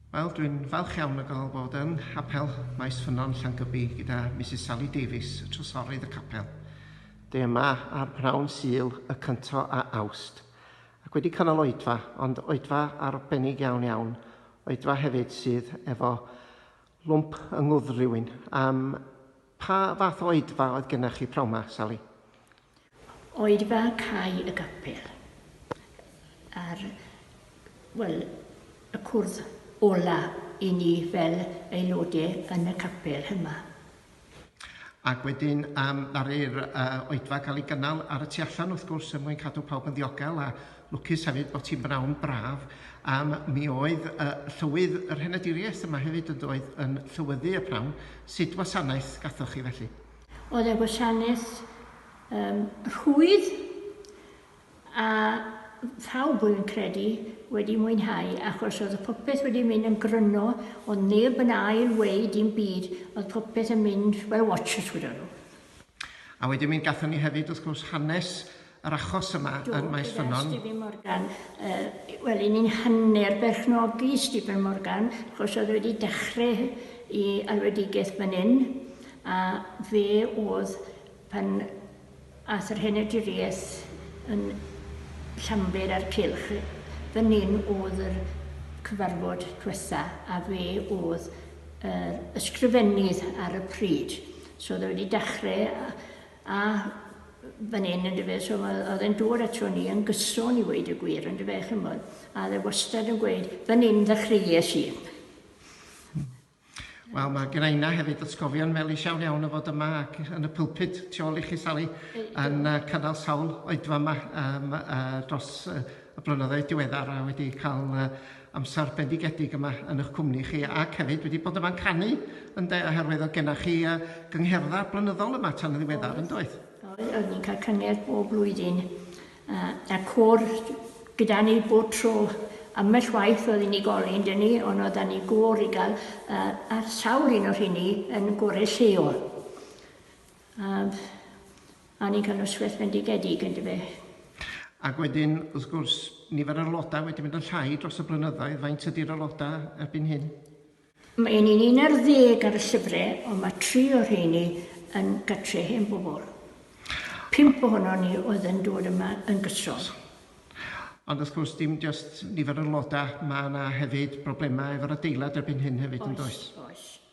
Wel, dwi'n falch iawn o gael bod yn Hapel Maes Ffynnon, Llangybi, gyda Misus Sally Davies, y Trysorydd y Capel, dwi yma ar bnawn Sul y cynto a Awst, ac wedi cynnal oedfa, ond oedfa arbennig iawn iawn, oedfa hefyd sydd efo lwmp yng ngwddf rywun, am, Pa fath oedfa oedd gennych chi pnawn 'ma, Sally? Oedfa Cae y Gapel. A'r, wel, y cwrdd ola i ni fel aelodau yn y capel yma. Ac wedyn um, ddaru'r uh, oedfa gael ei gynnal ar y tu allan, wrth gwrs, er mwyn cadw pawb yn ddiogel a Lwcus hefyd bod ti'n bnawn braf am mi oedd uh, llywydd yr henaduriaeth yma hefyd yn doedd yn llywyddu y prawn. Sut wasanaeth gathoch chi felly? Oedd e wasanaeth um, rhwydd a phawb yn credu wedi mwynhau achos oedd y popeth wedi mynd yn gryno ond neb yn ail wei dim byd oedd popeth yn mynd fel watches gyda nhw. A wedyn mi gatho ni hefyd wrth gwrs hanes yr achos yma yn Maes Ffynnon. Do, gyda Stephen Morgan. Yy, wel, 'yn ni'n hanner berchnogi Stephen Morgan, achos oedd wedi dechrau i alwedigaeth fan hyn, a fe oedd pan ath yr henediriaeth yn Llanbed a'r Cylch, fan hyn oedd yr cyfarfod diwetha, a fe oedd yr ysgrifennydd ar y pryd. So oedd e wedi dechrau a, a fan hyn yn dyfe, so oedd e'n dŵr ato ni yn gyson i weid y gwir yn dyfe, chymod, a oedd e wastad yn gweud, fan hyn ddechreuais i. Wel, mae gen i hefyd atgofion melys iawn iawn o fod yma ac yn y pulpud tu ôl i chi, Sally, yn uh, cynnal sawl oedfa yma um, uh, dros uh, y blynyddoedd diweddar a wedi cael uh, amser bendigedig yma yn eich cwmni chi ac hefyd wedi bod yma'n canu ynde oherwydd oedd gennych chi uh, gyngherddau blynyddol yma tan yn ddiweddar yn doedd? Oedd yn cael cyngerdd bob blwyddyn uh, a cwr gyda ni bob tro ambell waith oedd unigolyn dyn ni ond oedd ni gwr i gael uh, a sawl un o'r hynny yn gorau lleol. Ab Annie gan Ysgwell Bendigedig, yn dyfe? Ac wedyn, wrth gwrs, nifer yr aelodau wedi mynd yn llai dros y blynyddoedd. Faint ydy'r aelodau erbyn hyn? Mae un yn un ar ddeg ar y llyfrau, ond mae tri o'r rheini yn gartre hen bobl. Pump ohono ni oedd yn dod yma yn gyson. Ond wrth gwrs, dim just nifer yr aelodau, mae yna hefyd broblemau efo'r adeilad erbyn hyn hefyd, yn does? Oes, oes.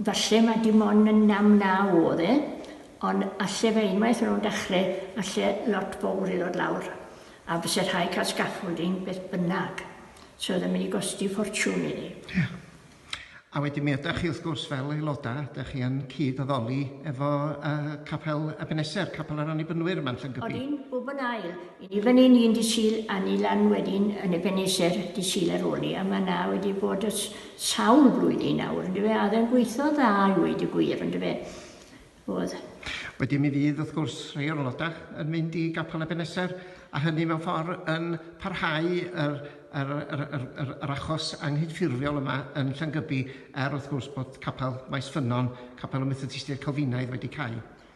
Falle mae dim ond yn nam na oedd e, ond alle fe unwaith ar ôl dechrau, alle lot fowr i ddod lawr, a byse rhaid cael scaffolding beth bynnag, so oedd e'n mynd i gosti ffortiwn iddi. Ie. A wedyn mi ydach chi wrth gwrs fel aelodau, dych chi yn cyd-addoli efo yy Capel Ebeneser, Capel yr Annibynwyr yma yn Llyngybi. Odyn, bob yn ail. I ni fan hyn un dydd Sul a ni lan wedyn yn Ebeneser dydd Sul ar ôl 'ny, a ma' 'na wedi bod ers sawl blwyddyn nawr yndyfe a oedd e'n gweithio'n dda i weud y gwir yndyfe. Oedd. Wedyn mi fydd wrth gwrs rhei o'r aelodau yn mynd i Gapel Ebeneser a hynny mewn ffordd yn parhau yr, yr, yr, yr, yr, yr achos anghydffurfiol yma yn Llangybi er wrth gwrs bod Capel Maes Ffynnon, Capel y Methodistiaid Calfinaidd wedi cau.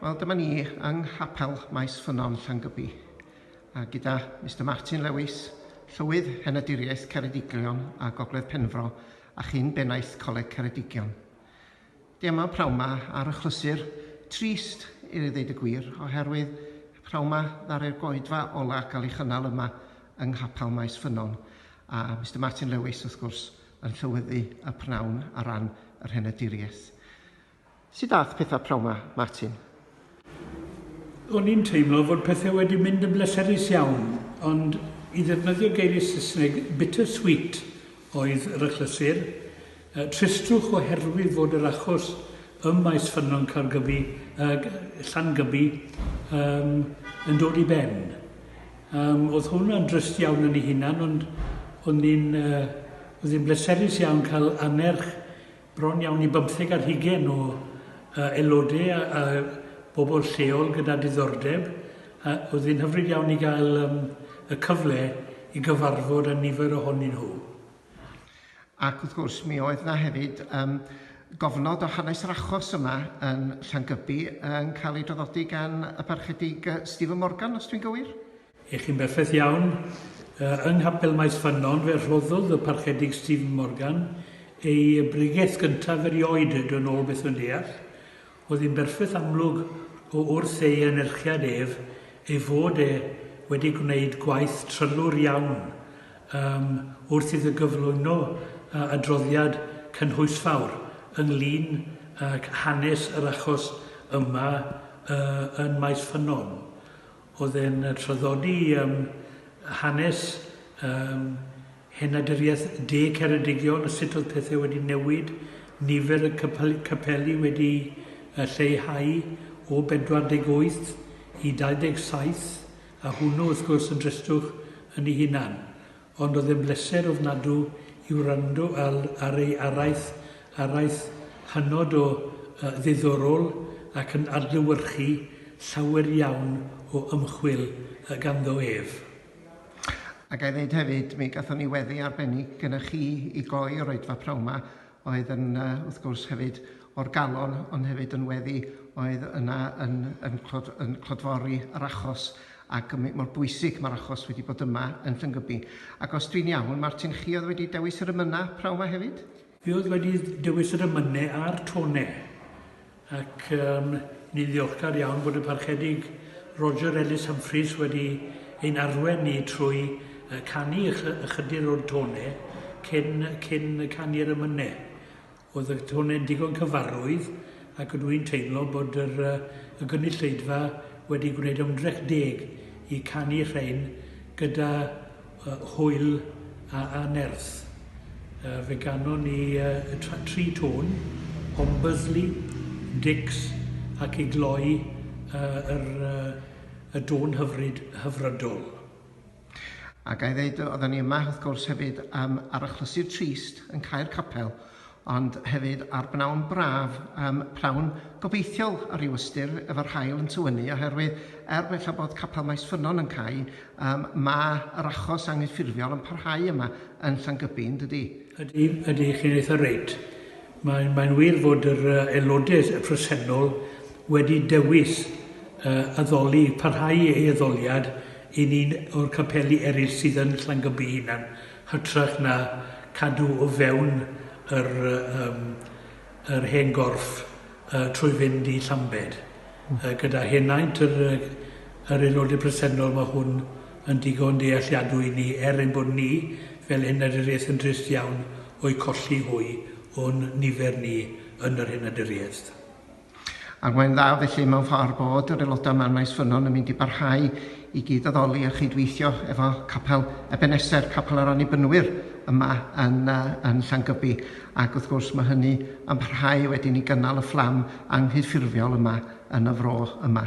Wel, dyma ni yng Nghapel Maes Ffynnon, Llangybi, a gyda Mr Martin Lewis, Llywydd Henaduriaeth Ceredigion a Gogledd Penfro a chyn bennaeth Coleg Ceredigion. Dwi yma prawn ma ar achlysur trist i ddeud y gwir, oherwydd prawn ma ddaru'r goedfa ola gael ei chynnal yma yng Nghapel Maes Ffynnon, a Mr Martin Lewis, wrth gwrs, yn llywyddu y pnawn ar ran yr Henaduriaeth. Sut ath pethau p'nawn 'ma, Martin? O'n i'n teimlo fod pethau wedi mynd yn bleserus iawn, ond i ddefnyddio geiriau Saesneg, bitter sweet oedd yr achlysur. Tristrwch oherwydd fod yr achos ym maes ffynnon Caergybi, yy Llangybi, yym yn dod i ben. Yym o'dd hwnna'n drist iawn yn ei hunan, ond o'n i'n yy o'dd hi'n bleserus iawn cael annerch Bron iawn i bymtheg ar hugain o aelodau a bobl lleol gyda diddordeb a oedd hi'n hyfryd iawn i gael um, y cyfle i gyfarfod â nifer ohonyn nhw. Ac wrth gwrs mi oedd yna hefyd um, gofnod o hanes yr achos yma yn Llangybi yn cael ei draddodi gan y parchedig Stephen Morgan, os dwi'n gywir? Ych chi'n berffaith iawn. Yng Nghapel Maes Ffynnon fe rhoddodd y Parchedig Stephen Morgan ei bregeth gyntaf erioed, yn ôl beth rwy'n deall. Oedd hi'n berffaith amlwg o wrth ei anerchiad ef ei fod e wedi gwneud gwaith trylwr iawn yym wrth iddo gyflwyno yy adroddiad cynhwysfawr ynglŷn ag hanes yr achos yma yy yn Maes Ffynnon. oedd yn traddodi yym hanes yym henaduriaeth de Ceredigion, sut oedd pethau wedi newid, nifer y cypel- capeli wedi yy lleihau o 48 i 27, a hwnnw wrth gwrs yn dristwch yn ei hunan. Ond oedd e'n bleser ofnadw i wrando al ar ei araith, araith hynod o ddiddorol ac yn adlewyrchu llawer iawn o ymchwil ganddo ef. A ga i ddeud hefyd, mi gathon ni weddi arbennig gynnoch chi i gloi yr oedfa p'nawn 'ma, oedd yn yy wrth gwrs hefyd o'r galon ond hefyd yn weddi oedd yna yn yn clod- yn clodfori yr achos ac yn mor bwysig mae'r achos wedi bod yma yn Llyngybi. Ac os dwi'n iawn, Martin, chi oedd wedi dewis yr ymynau p'nawn 'ma hefyd? Fi oedd wedi dewis yr ymynau a'r tone. ac um, ni'n ddiolchgar iawn bod y Parchedig Roger Ellis Humphreys wedi ein arwen ni trwy uh, canu ychydig o'r tone cyn, cyn canu'r ymynne. Oedd y tone'n digon cyfarwydd ac ydw i'n teimlo bod yr, uh, y gynulleidfa wedi gwneud ymdrech deg i canu rhain gyda y hwyl a a nerth. Yy fe ganon ni yy y tra- tri tôn, Ombersley, Dicks ac i gloi yy yr yy y dôn hyfryd, Hyfrydol. A ga i ddeud yy oddan ni yma wrth gwrs hefyd yym ar achlysur trist yn cau'r capel ond hefyd ar bnawn braf, yym, pnawn gobeithiol ar ryw ystyr, efo'r haul yn tywynnu, oherwydd, er gwella bod Capel Maes Ffynnon yn cau, yym, ma' yr achos anghyffurfiol yn parhau yma yn Llangybi, yn dydi? Ydi, ydi, chi'n eitha' reit. Mae'n, mae'n wir fod yr yy aelodau y presennol wedi dewis yy addoli, parhau ei addoliad i un o'r capeli eraill sydd yn Llangybi'i hunan. hytrach na cadw o fewn yr yym yr hen gorff yy trwy fynd i Llambed. Hmm. Yy gyda henaint yr yy yr aelode presennol mae hwn yn digon dealliadwy i ni er ein bod ni fel henaduriaeth yn drist iawn o'u colli hwy o'n nifer ni yn yr henaduriaeth. Ac mae'n dda felly mewn ffordd bod yr aelodau yma yn Maes Ffynnon yn mynd i barhau i gyd-addoli a chyd-weithio efo Capel Ebeneser, Capel yr Annibynwyr yma yn, uh, yn Llangybi. Ac wrth gwrs mae hynny yn parhau wedyn i gynnal y fflam anghyffurfiol yma yn y fro yma.